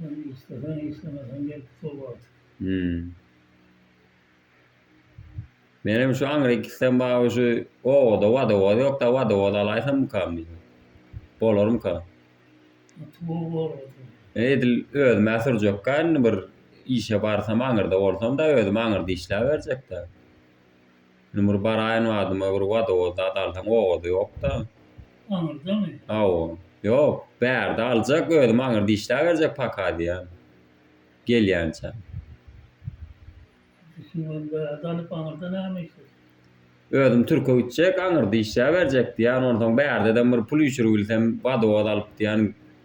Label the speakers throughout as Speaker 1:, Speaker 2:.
Speaker 1: Ýöne
Speaker 2: isleseň, islemeseň gelip dur wagty. Hümm. Menem şu aňrykisydan bagy şu obada wadowoz ýokda wadowoz alaýsammykam diýdim. Bolarmyka?
Speaker 1: Tugur bolmasa. Edil
Speaker 2: özüm-ä sürjekkä indi bir işe barsam aňyrda bolsam-da özüm aňyrda işläberjek-dä. Indi bir baraýyn badyma bir wodowoz zat alsaň owazy ýokda. Aňyrdamy?
Speaker 1: Hawa. Ýok,
Speaker 2: bärde aljak özüm aňyrda işläberjek paka diýýän. Gelýänçä. Siz ony bärde
Speaker 1: alyp aňyrda näme işlejek? Özüm
Speaker 2: türke gitjek aňyrda işläberjek diýýän onsoň bärdeden bir pul üýşüribilsem wodowoz alyp diýýän.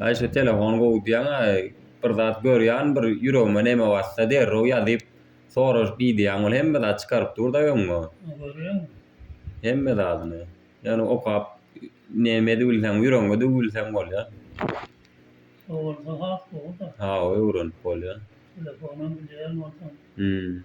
Speaker 2: Aý şu telefon gowy diýýäňä bir zat görýän bir ýüregime neme batsa derrew ýazyp soraşyp idýän ol hemme zat çykaryp durda öňňe. Görýäňmi.
Speaker 1: Hemme
Speaker 2: zadyny. Ýöne okap neme edip bilseň ýüregiňe düwüp bilseň bolýa. Gowy
Speaker 1: bolsa has gowuda. Hawa öwrenip
Speaker 2: bolýa. Telefonam
Speaker 1: bilýän bolsaň. Hümm.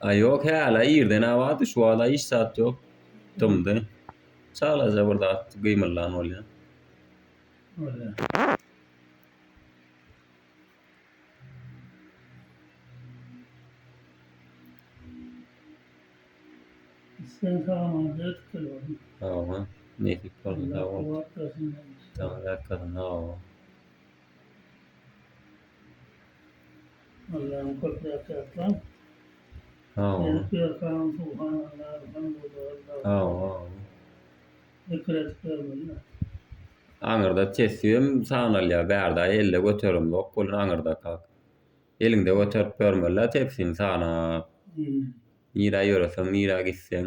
Speaker 1: Aý
Speaker 2: ýok häla irden-ä bardy şu wagta hiç zat ýok dymdy çalaja bir zat gymyldan
Speaker 1: bolýa. Allahym köp zat ýatlan.
Speaker 2: Sag bol. Edip
Speaker 1: berkaň subhanallah elhamdullah Sag Allah.
Speaker 2: bol.
Speaker 1: Zikir edip bermeli. Aňyrda
Speaker 2: tesbihim sagnalýar bärde elde göterimzok bolýar aňyrdakak. Eliňde göterip bermeli tepsini sagnap. Nirä ýöreseň nirä gitseň.